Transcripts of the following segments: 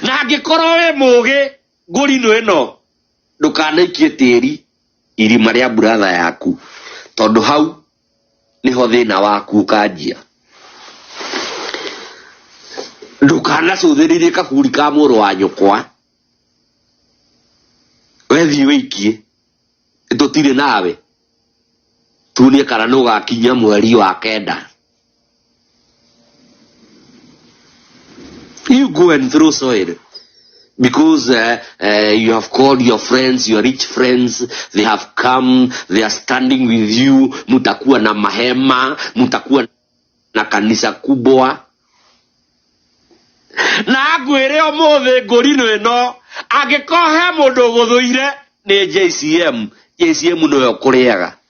na angĩkorwo wĩ mũgĩ ngũrinũ ĩno ndũkanaikie tĩri irima rĩa buratha yaku tondũ hau nĩho thĩna waku ũkanjia ndũkanacũthĩrĩrie kaburi ka mũrũ wa nyũkwa wethiĩ wĩikie tũtirĩ nawe tuonie kana nĩ ũgakinyia mweri wa kenda You go and throw soil because uh, uh, you have called your friends, your rich friends, they have come, they are standing with you, mutakuwa na mahema, mutakuwa na kanisa kubwa. Na ngwĩre ũmũthĩ ngũrino ĩno angĩkorwo he mũndũ ũgũthũire nĩ JCM, JCM nĩwe ũkũrĩaga.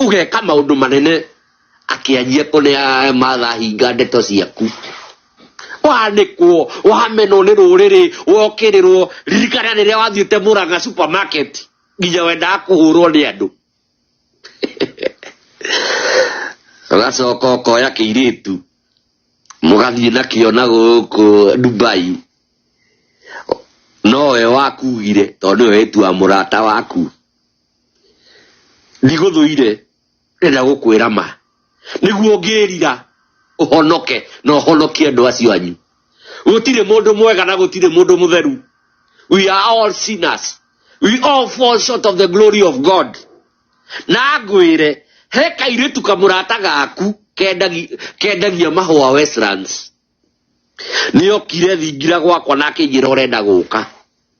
ugeka maundu manene akianjia kuneaga matha hinga ndeto ciaku wanĩkwo wamenwo nĩ rũrĩrĩ wokĩrĩrwo ririkana rĩrĩa wathiĩte mũranga supermarket nginya wendaga kũhũrwo nĩ andũ ũgacoka ũkoya kĩirĩtu mũgathiĩ nakĩo na gũkũ dubai nowe wakugire tondũ nĩwe wĩtua mũrata waku ndigũthũire ndĩrenda gũkwĩra ma nĩguo ngĩrira ũhonoke na ũhonokie andũ acio anyu gũtirĩ mũndũ mwega na gũtirĩ mũndũ mũtheru we are all sinners we all fall short of the glory of god na ngwĩre he kairĩtu kamũrata gaku kendagi- kendagia mahũa westlands nĩokire thingira gwakwa na akĩnjĩra ũrenda gũka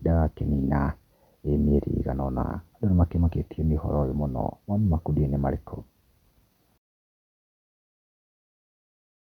ndagakĩnina mĩeri ĩigana ũna. Andũ nĩ makĩmakĩtio nĩ ũhoro ũyũ mũno. Mawoni maku nĩ marĩkũ?